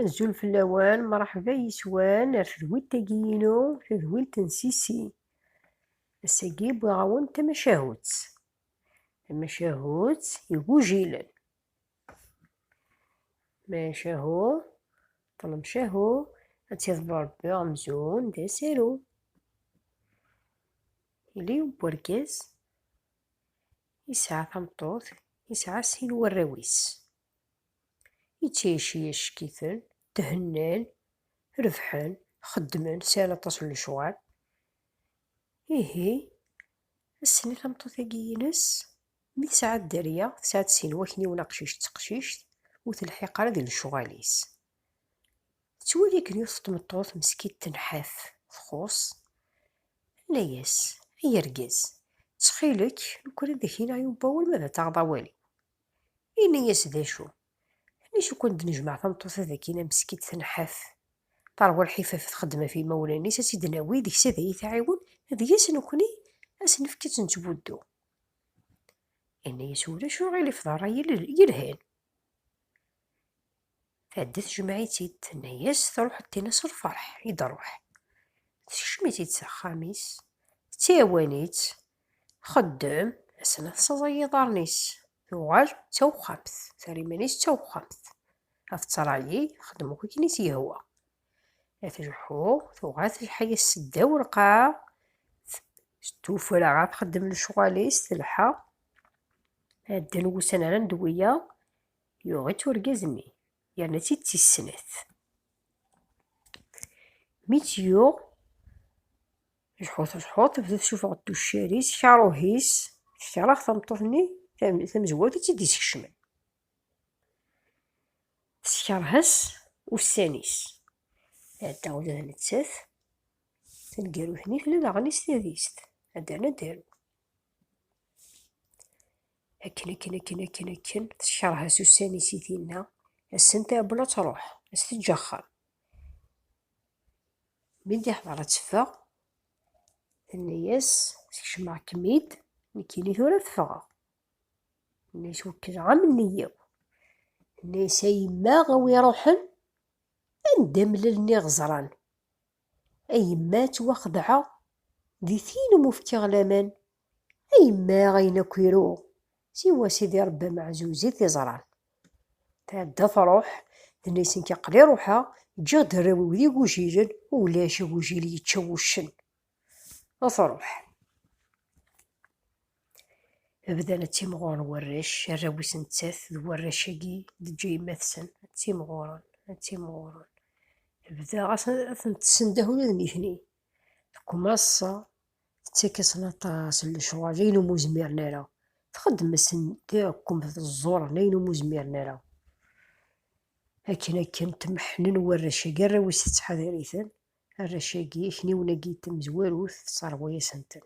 Azul fell-awen, mṛeḥba yes-wen ar tedwilt-agi-inu, tadwilt n Sisi. Ass-agi wwiɣ-awen tamacahut, tamacahut igujilen. Macahu, ṭlemcahu, ad tiḍebber Rebbi amzun d asaru. Yella yiwen n urgaz, Yesɛa tameṭṭut, yesɛa sin warraw-is. Yettɛici acek-iten, thennan, rebḥen, xeddmen, sɛan aṭas n lecɣal. Ihi, ass-nni tameṭṭut-agi-ines, mi tesɛa dderya, tesɛa-d sin wakniwen aqcic d teqcict, ur telḥiq ara di lecɣal-is. Tettwali-ken yiwet tmeṭṭut meskidt tenḥaf, txuṣ, tenna-yas, Ay argaz, ttxil-k, lukan ad ak-iniɣ yiwen n wawal ma ad taɣeḍ awal-iw. Yenna-yas, D acu? Tenna-as, Lukan ad d-nejmeɛ tameṭṭut-a dagi meskidt tenḥaf, teṛwa lḥifaf txeddem ɣef yimawlan-is, ad tt-id-nawi deg-s ad iyi-tɛiwen, deg-s nekni ad s-nefk ad tt-nettbuddu. Yenna-yas, Ulac aɣilif, d ṛṛay yelhan. Tɛedda tjemmeɛ-itt-id, tenna-yas truḥeḍ tinna s lferḥ i d-ruḥ. Tekcem-itt-id s axxam-is, ttɛiwan-itt, txeddem, asana tessaẓay yiḍarren-is, tuɣal d tawexxamt, terra iman-is d tawexxamt, ad tettṛayi, txeddem akk akken i s-yehwa. A tleḥḥu, tuɣal telḥa-yas seddaw lqaɛa, tuffra ad txeddem lecɣal-is, telḥa. Ɛeddan wussan rran-d wiyaḍ, Yuɣ-itt urgaz-nni, yerna-tt-id d tis-snat. Mi tt-yuɣ, jḥut jḥut, tebda tessuffeɣ-d tuccar-is, karuh-is, tekreh tameṭṭut-nni tamezwarut i tt-id-iskecmen. Teskerh-as ussan-is. Tɛedda ula d nettat, taneggarut-nni tella daɣen-is tadist, ad d-ternu ad d-taru. Akken, akken, akken, akken, akken, tecreḥ-as ussan-is i tinna, ass-n tɛewwel ad truḥ, ad s-teǧǧ axxam. Mi d-iḥḍer ad teffeɣ, tenna-yas, skecmeɣ-kem-id, nekkini tura ad ffɣeɣ. Tenna-yas, wekkleɣ am nniya-w. Tenna-yas, a yemma, a wi iruḥen, anda mlalen iɣeẓran? A yemma, ttwaxedɛeɣ, di tin umi fkiɣ laman, A yemma ayen akk iruɣ, siwa Sidi Rebbi ameɛzuz i t-iẓran. Tɛedda truḥ, tenna i Senki aql-i ruḥeɣ, ǧǧiɣ-d arraw-iw d igujilen, ulac agujil yečča wuccen. A truḥ. Bdan ad timɣuren warrac, arraw-is nettat d warrac-agi d-teǧǧa yemma-tsen, ad timɣuren, ad timɣuren. Bda ɣas ad ten-tessendeh ula d nitni. Tkumaṣ tettak-asen aṭas n lecɣal ayen umi ur zmiren ara, txeddem-asen taɛkumt d ẓẓuren ayen umi ur zmiren ara. Akken akken temḥennen warrac-agi, arraw-is tettḥadar-iten, arrac-agi, akniwen-agi, tamezwarut, tesserɣu-yasen-ten.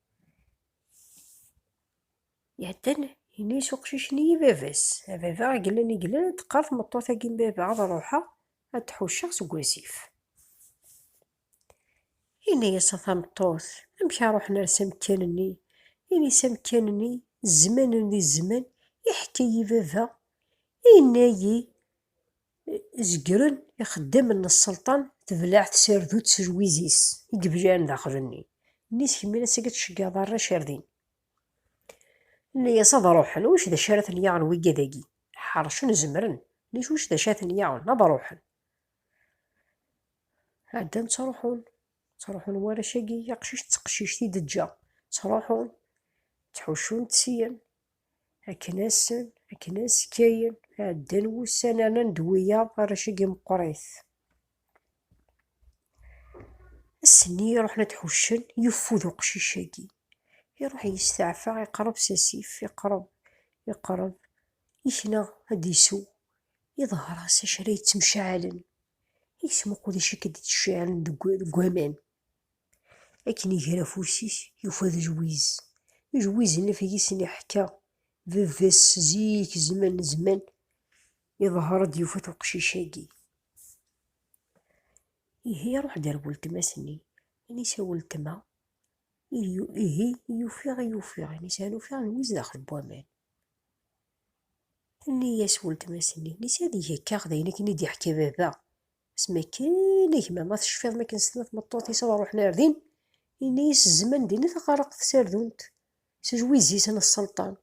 Iɛeddan yenna-yas uqcic-nni i baba-s, A baba, a glan a glan, teqqar tmeṭṭut-agi n baba ad ruḥeɣ ad t-ḥucceɣ seg wasif. Yenna-yas a tameṭṭut, amek a ruḥen ar s amekkan-nni? Ini-s amekkan-nni, zzman-nni di zzman, iḥka-yi baba, yenna-yi. Zegren ixeddamen n sselṭan tebleɛ tsardutt s lwiz-is i ibliɛen daxel-nni, nni skemmin ass-agi ad tceggeɛeḍ arrac ar din. Nni-yas ad ruḥen, wic d acu ara ten-yaɣen wigad-agi? Ḥercen zemren, nni-s wic d acu ara ten-yaɣen? Ad ruḥen. Ɛeddan ttruḥun, ttruḥun warrac-agi, aqcic d teqcict i d-ǧǧa, ttruḥun, ttḥuccun-t syen. Akken-asen, akken-as kayen, ɛeddan wussan rnan d wiyaḍ arrac-agi meqqrit. Ass-nni i ruḥen ad d-ḥuccen, yeffud uqcic-agi. Iruḥ yesteɛfa, iqerreb s asif, iqerreb, iqerreb, yekna ad d-isew. Iḍher-as acu ara yettemceɛalen. Yettmuqul acu akka d-ittceɛalen deg waman. Akken iger afus-is, yufa d jwiz. Jwiz n lfeg i sen-iḥka baba-s zik zzman n zzman, iḍher-d yufa-t uqcic-agi. Ihi iruḥ-d ar weltma-s-nni, ini-s a weltma, ihi yufiɣ i ufiɣ, ini-s an ufiɣ jwiz daxel n waman. Tenna-yas weltma-s-nni, ini-s ad ig akka d ayen akken i d-iḥka baba, Asmi akken gma ma tecfiḍ mi akken stenna tmeṭṭut-is ad ruḥen ar din, yenna-yas zzman dinna taxarreqt tasardunt, s ujwiz-is n sselṭan.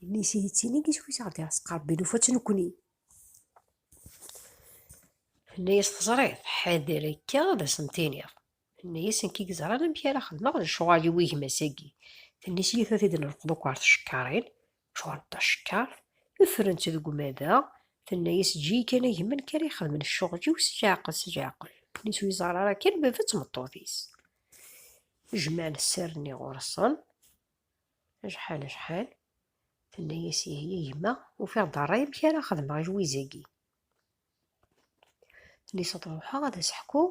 Yenna-yas ihi d tin i yiswi-s i ɣ-d-iɛesqarbin, ufa-tt nekkni. Tenna-yas teẓriḍ, ḥader akka ad asen-tiniḍ. Yenna-yas nekk i yeẓran amek ara xedmeɣ lecɣal-iw i gma-s-agi. Tenna-yas ihi tura ad t-id-nelqeḍ akk ɣer tcekkaṛin, Ččuṛent tacekkart, ffrent deg umadaɣ, tenna-yas eǧǧ-iyi kan a gma nekk ara ixedmen ccuɣl-iw s leɛqel s leɛqel. Nnes ur iẓerr ara kan baba d tmeṭṭut-is. Jman sser-nni ɣur-sen. Acḥal acḥal. Tenna-yas ihi a gma ufiɣ-d ṛṛay amek ara xedmeɣ i lwiz-agi. Nniseɣ-d ṛuḥeɣ ad as-ḥkuɣ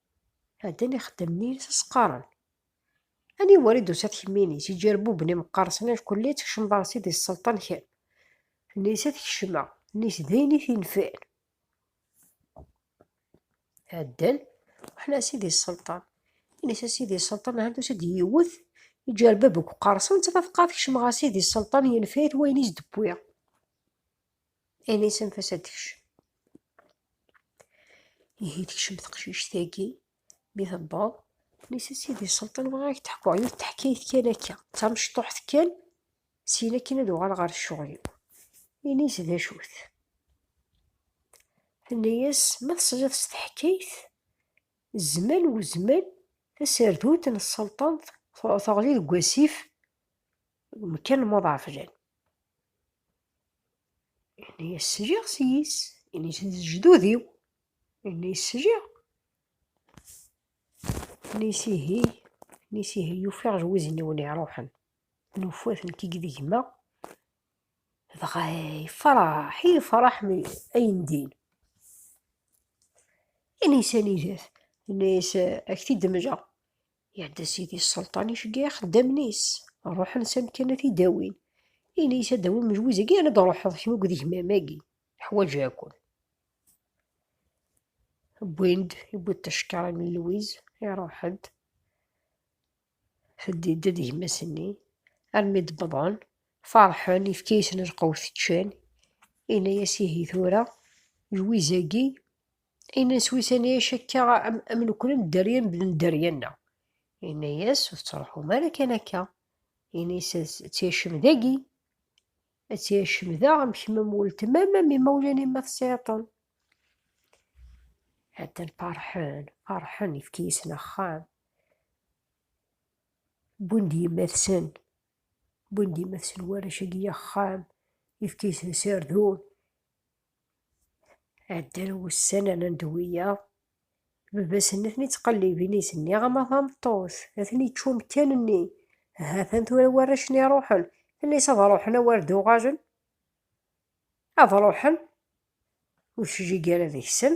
Ɛeddan ixeddamen-nni s as-qqaren, Aniwa ara d-tusa tkemminit, iǧerbuben imeqqersen acku-lli tkecmeḍ-as-id i sselṭan kemm? Nisa tekcem-a, nnis d ayen i t-infen. Ɛeddan ruḥen a sidi sselṭan, innis a sidi sselṭan ahan tusa-d yiwet iǧerbeb akk qqersen, ttafaqeɣ ad kecmeɣ a sidi sselṭan yenfa-it wayen i s-d-wwiɣ. Ayen isanef-as ad tekcem. Ihi tekcem teqcict-agi, mi tewweḍ, nis a sidi Selṭan bɣiɣ ad k-d-ḥkuɣ yiwet teḥkayt kan akka, d tamecṭuḥt kan, syin akin ad uɣaleɣ ɣer ccuɣel-iw. Ini-as d acu-t. Tenna-as, ma tesliḍ s teḥkayt, zzman u zzman taserdut n Selṭan teɣli deg wasif, deg umekkan n Muḍɛafjan. Ini-yas sjiɣ s yis, ini s lejdud-iw, ini-yas sjiɣ. Ini-yas ihi, ini-yas ihi yufiɣ lwizen-iw n iruḥen, nufa-t nekk i gma dɣa yefraḥ, yefraḥ mi ayen din. Ini-yas anida-t, ini-yas ak t-id-mleɣ. Iɛedda Sidi Sselṭan iceggeɛ ixeddamen-is, ruḥen s amkan ad t-id-awin. Ini-as ad d-awin mejwuz-agi yerna ad d-ruḥeḍ kemm akked gma-agi, ḥwaǧeɣ-ken. Wwin-d, iwwi-d tacekkaṛ imi n Lwiz, iṛuḥ-d, teddi-d d gma-s-nni, armi d-wwḍen, feṛḥen, yefka-yasen lqewt ččan, ini-as ihi tura, jwiz-agi Inna-yas wisani acakka am, am nekni am dderya mebla dderya-nneɣ. Inna-yas ur tettruḥum ara kan akka. Inna-yas ad tt-yacem dagi. Ad tt-yacem daɣ am kemm am weltma-m am imawlan-im ma tesɛiḍ-ten. Hatten farḥen, farḥen ifki-yasen axxam. Wwin-d yemma-tsen, wwin-d yemma-tsen warrac-agi axxam, ifki-yasen sardun. Ɛeddan wussan rnan-d wiyaḍ, baba-sen a ten-ittqellibin i s-nniɣ ama tameṭṭut a ten-ičč umekkan-nni, ha-t-an tura warrac-nni ruḥen, ini-s ad ruḥen a wer d-uɣalen, ad ruḥen ur tejjig ara deg-sen.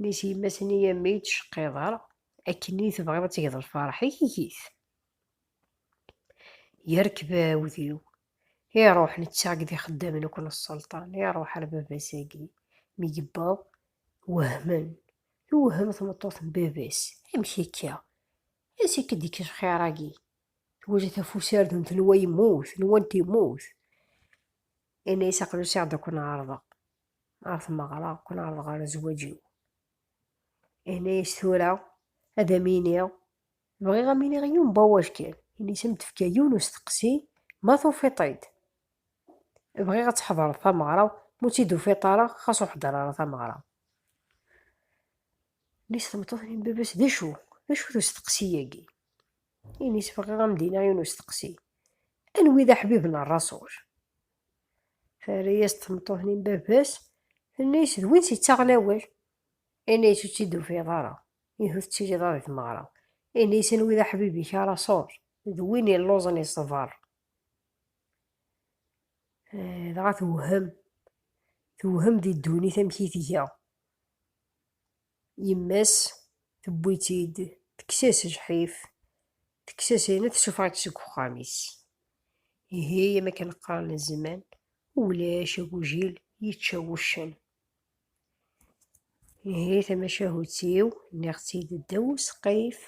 Mi s yemma-s-n i am i d-tceqqiḍ ara, akken i tebɣiḍ ad tgeḍ lferḥ-ik, eg-it. Yerkeb aɛudiw, iruḥ netta akked ixeddamen akk n sselṭan, iruḥ ar baba-s-agi. Mi yewweḍ, wehmen. Twehhem tmeṭṭut n baba-s, amek akka? Ansi akka d-ikk lxir-agi? Twala tafusardun tenwa yemmut, nwant yemmut. Yenna-as aql-i usiɣ-d ad ken-ɛerḍeɣ. ɣer tmeɣra ur ken-ɛerḍeɣ ara zzwaǧ-iw ini-as tura ad am-iniɣ bɣiɣ am iniɣ yiwen bawac kan ini-as am tefka yiwen usteqsi ma tufiḍ-t-id bɣiɣ ad tḥedreḍ tameɣra mu tt-id-tufiḍ ara xas ur ḥder ara tameɣra ini-as tmeṭṭut n baba-s d acu d acu-t usteqsi-agi ini-as bɣiɣ am dinaɣ yiwen usteqsi anwi d aḥbib n rrasul Terra-yas tmeṭṭut-nni n baba-s, tenna-yas d win tt-ittaɣen awal. Yenna-yas ur tt-id-tufiḍ ara, ihi ur tettiliḍ ara di tmeɣra. Yenna-yas anwa i d aḥbib-ik a Raṣul, d win illuẓen yeṣber. Eh, dɣa tewhem, tewhem di ddunit amek i tga. Yemma-s tewwi-tt-id, tekkes-as lḥif, tekkes-as ayen, tessuffeɣ-itt seg uxxam-is. Ihi, am akken qqaren zzman, ulac agujil yečča wuccen. Ihi, tamacahut-iw, nniɣ-tt-id ddaw usqif,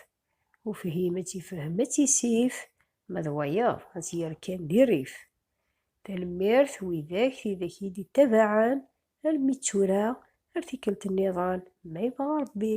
ufhim ad tifhem ad tisif, ma d wayeḍ ad tt-yerr kan di rrif. Tanemmirt widak, tidak i d-ittabaɛen, Almi d tura, ar tikkelt nniḍen, ma yebɣa Ṛebbi.